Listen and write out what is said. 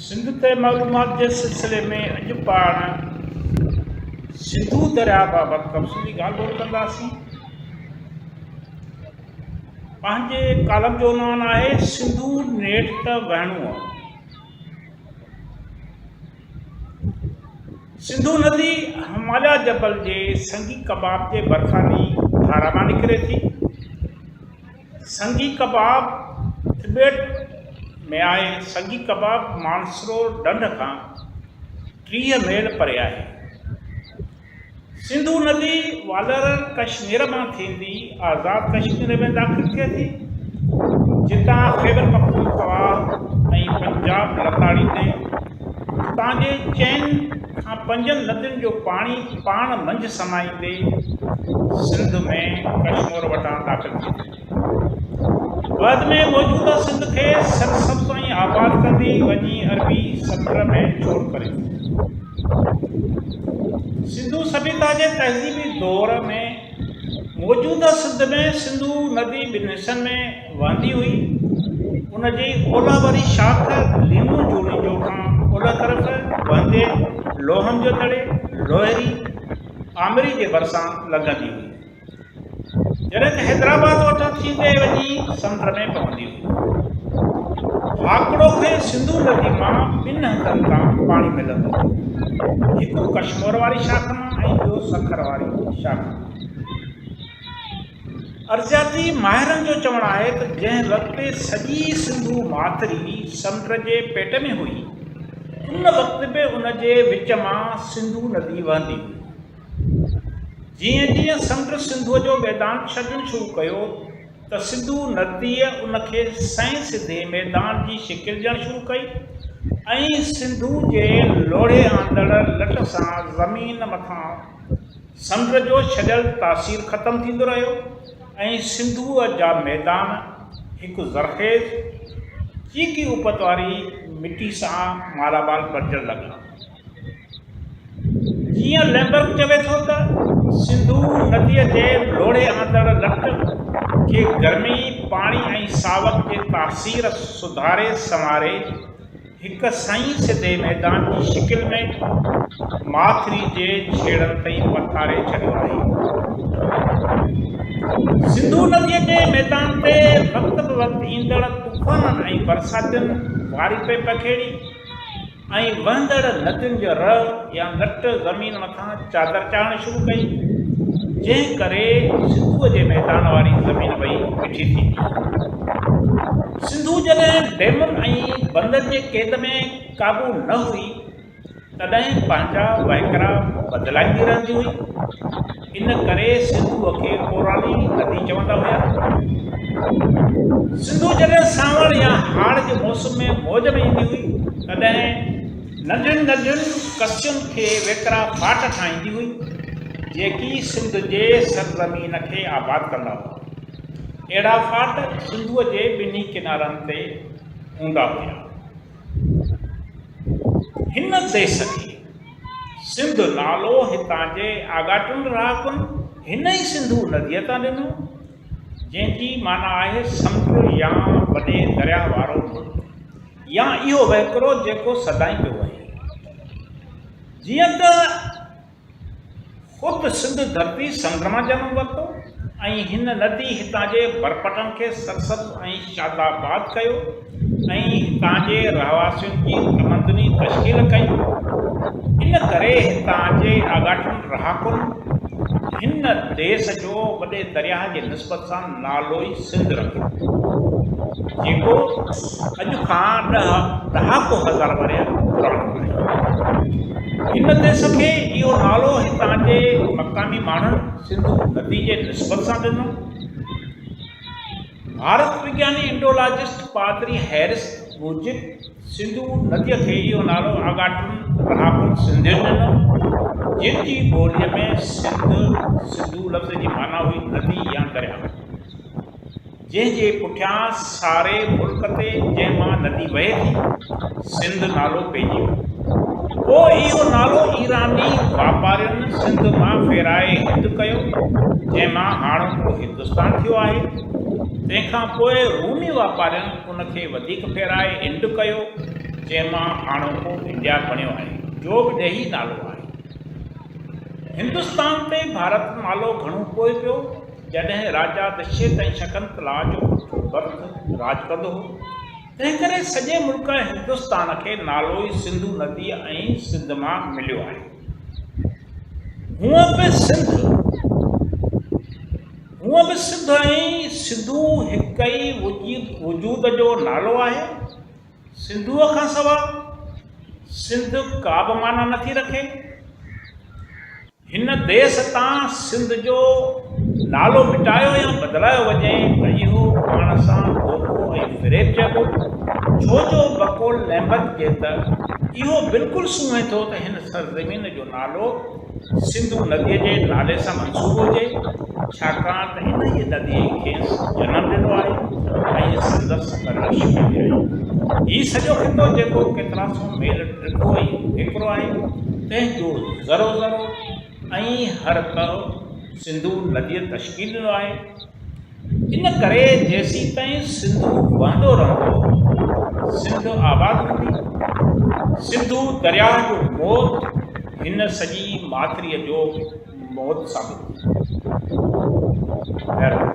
سنڌ تي معلومات جي سلسلي ۾ اڄ پاڻ سنڌو درياء بابت تفصيلي ڳالهه ٻولهه ڪنداسين پنهنجي ڪالم جو عنوان آهي سنڌو نيٺ ته وهڻو آهي سنڌو ندي هماليا جبل جي سنگي ڪباب جي ڀرسانهين ڌارا مان نڪري ٿي. سنگي ڪباب ٽبيٽ ۾ آهي. سنگي ڪباب مانسرو ڍنڍ کان ٽيهه ميل پري آهي. سنڌو ندي والر ڪشمير مان ٿيندي آزاد ڪشمير ۾ داخل ٿئي ٿي جتان خيبر پختونخوا ۽ پنجاب لتاڙي تي اتان جي چئن کان پنجن ندين جو پاڻي پاڻ منجهه سمائيندي سنڌ ۾ ڪشمور وٽان داخل ٿئي ٿي. بعد ۾ موجوده سنڌ کي سرسبز ۽ آباد ڪندي وڃي عربي سمنڊ ۾ چور ڪري ڇڏيو. سنڌو سڀيتا جي تهذيبي دور ۾ موجوده سنڌ ۾ سنڌو ندي ٻن حصن ۾ وهندي هئي. ان جي اولهه واري شاخ ليمو جوڻيجو کان اولهه طرف وهندي لوهن جو دڙي، لوهري، آمري جي ڀرسان لنگهندي هئي. جڏهن ته حيدرآباد وٺان ٿيندي وڃي سمنڊ ۾ پوندي هئي. ڀاڪڙو کي سنڌو ندي مان ٻن هنڌن تان پاڻي ملندو هو. هڪ ڪشمور واري شاخ مان ۽ ٻيو سکر واري شاخ مان. ارضياتي ماهرن جو چوڻ آهي ته جنهن وقت سڄي سنڌو ماٿري سمنڊ جي پيٽ ۾ هئي، ان وقت به ان جي وچ مان سنڌو ندي وهندي هئي. جيئن جيئن سمنڊ سنڌوء جو ميدان ڇڏڻ شروع ڪيو ته سنڌو نديء ان کي سئين سڌي ميدان جي شڪل ڏيڻ شروع ڪئي ۽ سنڌو جي لوڙهي آندڙ لٽ سان زمين مٿان سمنڊ جو ڇڏيل تاثير ختم ٿيندو رهيو ۽ سنڌوء جا ميدان هڪ زرخيز چيڪي اپت واري مٽي سان مالامال بڻجڻ لڳا. جيئن ليمبرڪ چوي ٿو ته سنڌو نديء جي لوڙهي آندڙ لٽ کي گرمي، پاڻي ۽ ساوڪ جي تاثير سڌاري سنواري هڪ سئي سڌي ميدان جي شڪل ۾ ماٿري جي ڇيڙن تائين پٿاري ڇڏيو آهي. سنڌو نديء جي ميدان تي وقت به وقت ايندڙ طوفانن ۽ برساتين واري پئي پکيڙي، ۽ وهندڙ ندين جو رء يا نٽ زمين مٿان چادر چاڙهڻ شروع ڪئي، جنهن ڪري سنڌوء جي ميدان واري زمين وئي مٺي ٿي پيئي. سنڌو جڏهن ڊيمن ۽ بندن جي قيد ۾ قابو نه هئي، تڏهن پنهنجا وهڪرا بدلائيندي رهندي هئي. ان ڪري سنڌوء کي پوراني ندي چوندا هيا. سنڌو جڏهن سانوڻ يا هاڙ جي موسم ۾ موج ۾ ايندي هئي، تڏهن ننڍين ننڍين ڪسيون کي ويڪرا ڦاٽ ٺاهيندي هئي، جيڪي سنڌ جي سرزمين کي آباد ڪندا هئا. اهڙا ڦاٽ سنڌوء جي ٻنهي ڪنارن تي هوندا هيا. هن ديس کي. سنڌ نالو هتان جي آڳاٽن رهاڪن هن ئي سنڌو نديء تان ڏنو، جنهن جي معنيٰ آهي سمنڊ يا وڏي درياهه وارو ملڪ يا اهو وهڪرو جيڪو سدائين پيو وهي. جيئن ته خود سنڌ ڌرتي سنڌ مان جنم ورتو ۽ هن ندي هتان جي برپٽن کي سرسبز ۽ شاد آباد ڪيو ۽ هتان جي رهواسين جي تمدني تشڪيل ڪئي. ان ڪري هتان جي آڳاٽن رهاڪن هن ديس جو وڏي درياهه جي نسبت سان نالو ئي سنڌ رکيو ويو، جيڪو اڄ کان ڏهه ڏهاڪو هزار ورهيه پراڻو آهي. هن ديس کي اهو نالو هتان جي مقامي ماڻهن سنڌو ندي جي نسبت سان ڏنو. ڀارت وگياني انڊولاجسٽ پادري هيرس موجب، سنڌو نديء کي اهو نالو آڳاٽن رهاڪن سنڌين ڏنو، جن جي ٻوليء ۾ سنڌ، سنڌو لفظ جي معنيٰ هئي ندي يا درياء، جنهن جي پٺيان ساري ملڪ تي جنهن مان ندي وهي ٿي، سنڌ نالو پئجي ويو. پوء اهو نالو ايراني واپارين سنڌ مان ڦيرائي هند ڪيو، جنهن مان هاڻوڪو هندستان ٿيو آهي. تنهن کان پوء رومي واپارين، ان کي وڌيڪ ڦيرائي انڊ ڪيو، جنهن مان هاڻوڪو انڊيا بڻيو آهي، جو به ڏيهي نالو آهي. هندستان تي ڀارت نالو گهڻو پوء پيو، جڏهن راجا دشيت ۽ شڪنتلا جو پٽ برڌ راڄ ڪندو هو، تنهنڪري سڄي ملڪ هندستان کي نالو ئي سنڌو نديء ۽ سنڌ مان مليو آهي. هونء به سنڌ. هونء به سڌ ۽ سنڌو هڪ ئي وجود جو نالو آهي. سنڌوء کان سوا سنڌ ڪا به معنيٰ نه ٿي رکي. هن ديس تان سنڌ جو نالو مٽايو يا بدلايو وڃي ته اهو پاڻ سان دوکو ۽ فريب چئبو، ڇو جو بقول نعمت جي ته اهو بلڪل سونهين ٿو ته هن سرزمين جو نالو سنڌو نديء جي نالي سان منسوب هجي، ڇاڪاڻ ته انهيء نديء ئي کيس جنم ڏنو آهي ۽ سندس پرورش ڪئي آهي. هي سڄو خطو جيڪو ڪيترا سو ميل ڊگهو ۽ ويڪرو آهي، تنهن جو ذرو ذرو ۽ هر تهه سنڌو نديء تشڪيل ڏنو آهي. ان ڪري جيسيتائين سنڌو وهندو رهندو، سنڌ آباد هوندي. سنڌو درياهه جو موت هن سڄي ماٿريء جو موت ثابت ٿيندو. بهرحال.